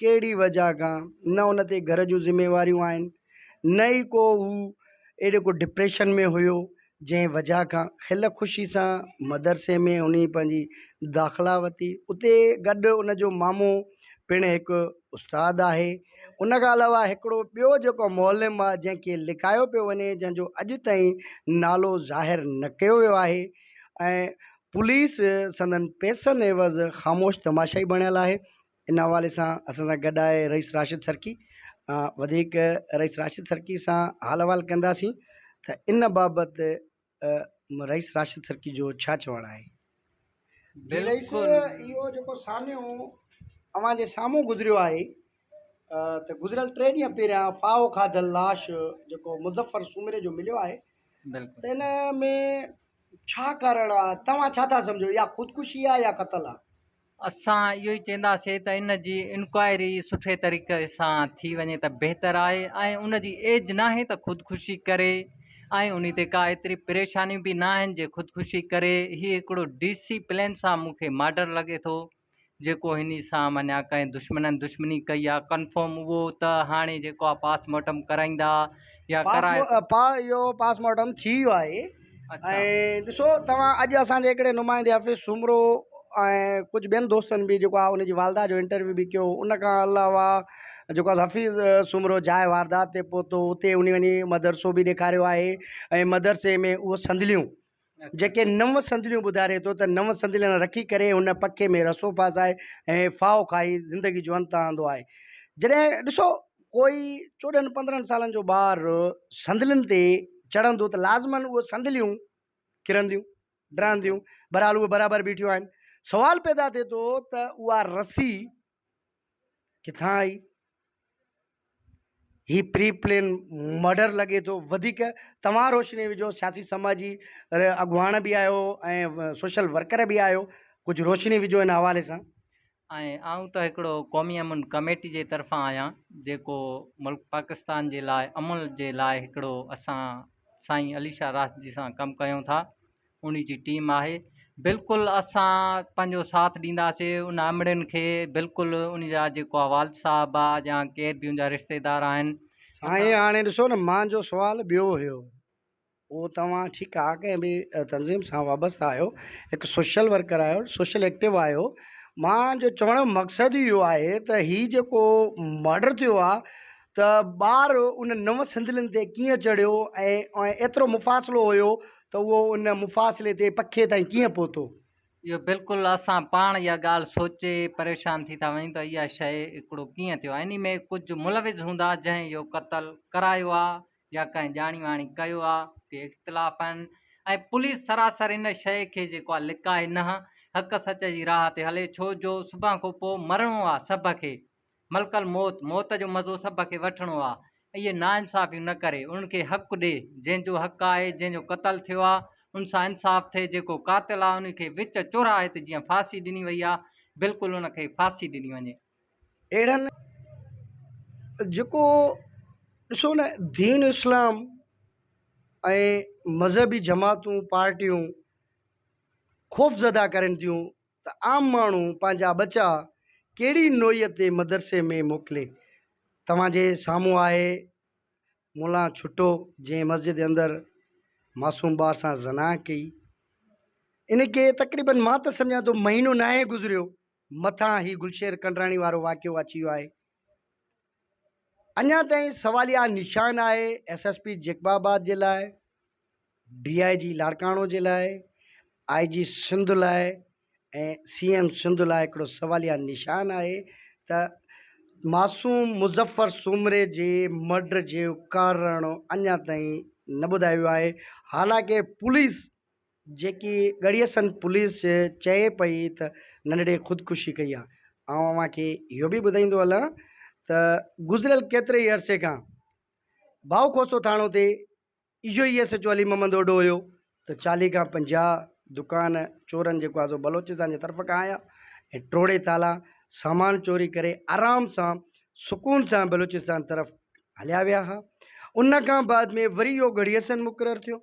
ڪهڙي وجهه کان نه ان تي گهر جون ذميواريون آهن نه ئي ڪو هو اهڙي ڪو ڊپريشن ۾ هيو جنهن وجهه کان کل خوشي سان مدرسي ۾ ان پنهنجي داخلا ورتي اتي گڏ ان جو مامو پڻ هڪ استاد آهي ان کان علاوه هڪڙو ٻيو جيڪو معلم آهي جنهن کي لڪايو پيو وڃي جنهن جو اڄ تائين نالو ظاهر نه ڪيو ويو آهي ۽ پوليس سندن پيسن عيوض خاموش تماشائي بڻيل آهي ان حوالي سان اسان سان گڏ آهي رئيس راشد سرڪي وڌيڪ رئيس راشد سرڪي سان حال احوال ڪنداسين ته ان بابت رئيس راشد سرڪي جو ڇا چوڻ آهي جي رئيس اهو جيڪو ساميو اوهان جي سامهون گذريو آهي ته گذريل ٽي ڏينهن پهريان فاهو کاڌل لاش جيڪو مظفر سومري جو مليو آهي ته ان ۾ ڇا ڪارڻ آهي توهان ڇا ٿا سمجهو اها خودڪشي آهي يا قتل آهي اسان اهو ئي چينداسين ته ان جي انڪوائري سٺي طريقي سان ٿي وڃي ته بهتر آهي ۽ ان جي ايج ناهي ته خودڪشي ڪري ۽ ان تي ڪا ايتري پريشانيون به ناهن جي خودڪشي ڪري هي هڪڙو ڊي سي پلين سان مون کي ماڊر لڳي ٿو جيڪو هني سان مڃيا ڪنهن دشمنن دشمني ڪئي آهي ڪنفرم اهو ته هاڻي جيڪو آهي پاس مارٽم ڪرائيندا يا ڪرائي پا اهو پاس مارٽم ٿي ويو آهي ۽ ڏسو توهان اڄ اسان جي هڪڙي نمائندي حفيظ سومرو ۽ ڪجهه ٻين دوستن به جيڪو آهي ان جي والده جو انٽرويو به ڪيو ان کان علاوه جيڪو آهي حفيظ سومرو جاء واردات تي پهتو اتي ان وڃي مدرسو به ڏيکاريو آهي ۽ مدرسي ۾ اهو صندليون جيڪي نو صندليون ٻڌاري ٿو ته نو صندلين رکي ڪري هن پکي ۾ رسو ڦاسائي ۽ ڦاهو کائي زندگي جو انت آندو آهي جڏهن ڏسو ڪوئي چوڏهن پندرهن سالن جو ٻار صندلين تي چڙهندو ته لازماً اهي صندليون ڪرنديون، ڊهنديون، بهرحال اهي برابر بيٺيون آهن. سوال پيدا ٿئي ٿو ته اها رسي ڪٿان آئي؟ هي پري پلين مرڊر لڳي ٿو. وڌيڪ توهان روشني وجهو، سياسي سماجي اڳواڻ به آهيو ۽ سوشل ورڪر به آهيو، ڪجهه روشني وجهو ان حوالي سان. ۽ آئون ته هڪڙو قومي امن ڪميٽي جي طرفان آهيان جيڪو ملڪ پاڪستان جي لاء امن جي لاء هڪڙو اسان سائين علي شاهه راشدي سان ڪم ڪيون ٿا انهي جي ٽيم آهي بلڪل اسان پنهنجو ساٿ ڏينداسي ان امڙين کي بلڪل ان جا جيڪو والد صاحب آ يا ڪير به ان جا رشتيدار آهن سائين هاڻي ڏسو نه مانجو سوال ٻيو هيو اهو توهان ٺيڪ آ ڪنهن به تنظيم سان وابسته آهيو هڪ سوشل ورڪر آهيو سوشل ايڪٽو آهيو مان جو چوڻ جو مقصد اهو آهي ته هي جيڪو مڙڊر ٿيو آ ته ٻار ان نو سندلين تي ڪيئن چڙهيو ۽ ايترو مفاصلو هيو ته اهو ان مفاصلي تي پکي تائين ڪيئن پهتو. اهو بلڪل اسان پاڻ اها ڳالهه سوچي پريشان ٿي ٿا وڃون ته اها شيء هڪڙو ڪيئن ٿيو انهي ۾ ڪجهه ملوث هوندا جنهن اهو قتل ڪرايو آ يا ڪنهن ڄاڻي واڻي ڪيو آ ڪي اختلاف آهن ۽ پوليس سراسر ان شئي کي جيڪو آ لڪائي نه حق سچ جي راه تي هلي ڇو جو صبح کان پو مرڻو آ سڀ کي ملڪ الموت موت جو مزو سڀ کي وٺڻو آ اهي نا انصافيون نه ڪري انهن کي حق ڏي جنهن جو حق آهي جنهن جو قتل ٿيو آ ان سان انصاف ٿئي جيڪو قاتل آ انهي کي وچ چوراهي تي جيئن ڦاسي ڏني وئي آ بلڪل ان کي ڦاسي ڏني وڃي. اهڙن جيڪو ڏسو نه دين اسلام ۽ مذهبي جماعتون پارٽيون خوف زده ڪرن ٿيون ته عام ماڻهو پنهنجا ٻچا ڪهڙي نوعيء تي مدرسي ۾ موڪلي توهانجي سامهون آهي مولان ڇٽو جنهن مسجد جي اندر معصوم ٻار سان زنا ڪئي ان کي تقريبن مان ته سمجهان ٿو مهينو ناهي گذريو مٿان هي گلشير ڪنڊراڻي وارو واقعو اچي ويو آهي اڃا تائين سواليا نشان آهي S S P Jacobabad جي لاء ڊي آء جي لاڙڪاڻو جي لاء آء جي سنڌ لاء ۽ سي ايم سنڌ لاء هڪڙو سواليا نشان آهي ته معصوم مظفر سومري جي مرڊر جي ڪارڻ اڃا تائين نه ٻڌايو ويو آهي حالانڪه پوليس جيڪي ڳڙهي سنڌ پوليس جي چئي پئي ته ننڍڙي خودڪشي ڪئي آهي. آئون اوهان کي اهو به ٻڌائيندو هلان ته گذريل ڪيتري ئي عرصي کان ڀائو کوسو ٿاڻو تي اهو ئي S H O Ali Muhammad Odho هيو ته چاليهه کان پنجاهه دڪان چورن جيڪو آهي سو بلوچستان جي طرف کان آيا ۽ ٽوڙي تالا سامان چوري ڪري آرام سان سڪون سان بلوچستان طرف هليا ويا ها ان کان بعد ۾ وري اهو ڳڙهي سنڌ مقرر ٿيو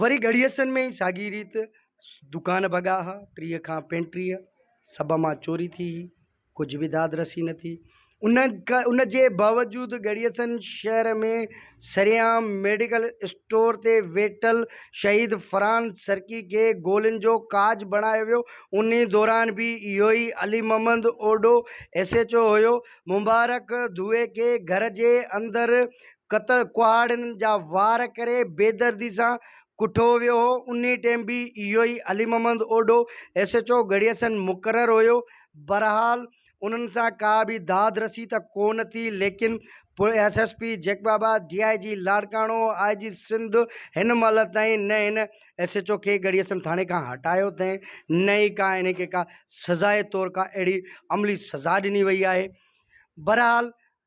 وري ڳڙهيسن ۾ ئي ساڳي ريت دڪان ڀڳا ها، ٽيهه کان پينٽيهه سڀ مان چوري ٿي هئي، ڪجهه به داد رسي نه ٿي. ان جي باوجود ڳڙهيسن شهر ۾ سرعام ميڊيڪل اسٽور تي ويٺل شهيد فرحان سرڪي کي گولين جو ڪاڄ بڻايو ويو، انهي دوران به اهو ئي Ali Muhammad Odho S H O هيو، مبارڪ ڌوئي کي گهر جي اندر قتل ڪهاڙن جا وار ڪري بيدردي سان ڪٺو ويو هو، انهي ٽيم به اهو ئي Ali Muhammad Odho S H O Garhi Yasin مقرر هيو، بهرحال انهن سان ڪا به داد رسي ته ڪو نه ٿي ليڪن پوء S S P Jacobabad, D I G Larkana, I G Sindh هن مهل تائين نه هن ايس ايڇ او کي ڳڙهيسن ٿاڻي کان هٽايو اٿئين نه ئي ڪا انهي کي ڪا سزائي طور ڪا اهڙي عملي سزا ڏني وئي آهي، بهرحال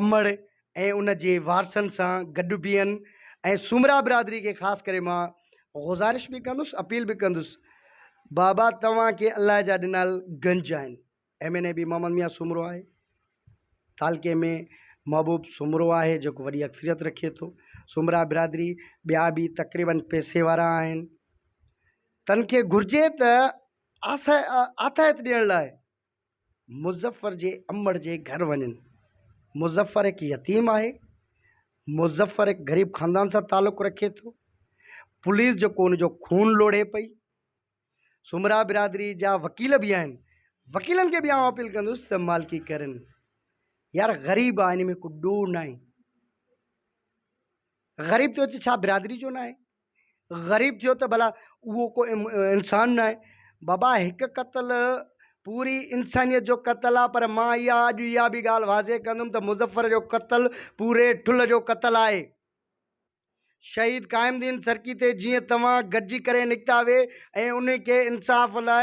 امڙ ۽ ان جي وارثن سان گڏ بيهن ۽ سومرا برادري کي خاص ڪري مان غذارش به ڪندس اپيل به ڪندس بابا توهان کي الله جا ڏنال گنج آهن ايم اين اي به محمد ميان سومرو آهي تعلقي ۾ محبوب سومرو آهي جيڪو وڏي اڪثريت رکي ٿو سومرا برادري ٻيا به تقريبا پيسي وارا آهن تن کي گهرجي ته آسه آتاهت ڏيڻ لاء مظفر جي امڙ جي گهر وڃن. مظفر هڪ يتيم آهي. مظفر هڪ غريب خاندان سان تعلق رکي ٿو. پوليس جيڪو ان جو خون لوڙهي پئي. سومرا برادري جا وڪيل به آهن. وڪيلن کي به آئون اپيل ڪندس ته مالڪي ڪرن. يار غريب آهي ان ۾ ڪو ڏوهه ناهي. غريب ته هت ڇا برادري جو ناهي. غريب ٿيو ته ڀلا اهو ڪو انسان نه آهي بابا هڪ قتل پوري انسانيت جو قتل آهي پر مان اها اڄ اها بي ڳالهه واضح ڪندم ته مظفر جو قتل پوري ٺل جو قتل آهي شهيد قائم الدين سرڪي تي جيئن توهان گڏجي ڪري نڪتا هئي ۽ ان کي انصاف لاء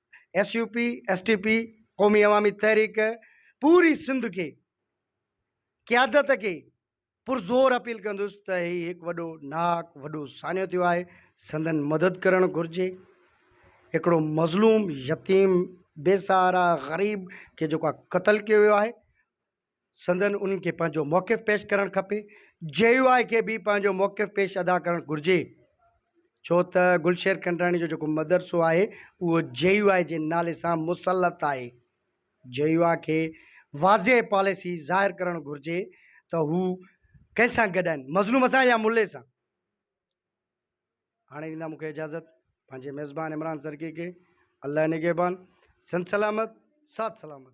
S U P, S T P, قومي عوامي تحريڪ پوري سنڌ کي قيادت کي پرزور اپيل ڪندس ته هي هڪ وڏو ناهڪ وڏو ساڃو ٿيو آهي سندن مدد ڪرڻ گهرجي هڪڙو مظلوم يتيم بي سهارا غريب کي جيڪو قتل ڪيو ويو آهي. سندن انهن کي پنهنجو موقف پيش ڪرڻ کپي، جي يو آء کي به پنهنجو موقف پيش ادا ڪرڻ گهرجي ڇو ته گلشير کنڊراڻي جو جيڪو مدرسو آهي اهو جي يو آء جي نالي سان مسلط آهي، جي يو آء کي واضح پاليسي ظاهر ڪرڻ گهرجي ته هو ڪنهن سان گڏ آهن مظلوم سان يا ملي سان. هاڻي ڏيندا مون کي اجازت پنهنجي ميزبان عمران سرڪي کي الله نگهبان سنڌ سلامت ساٿ سلامت.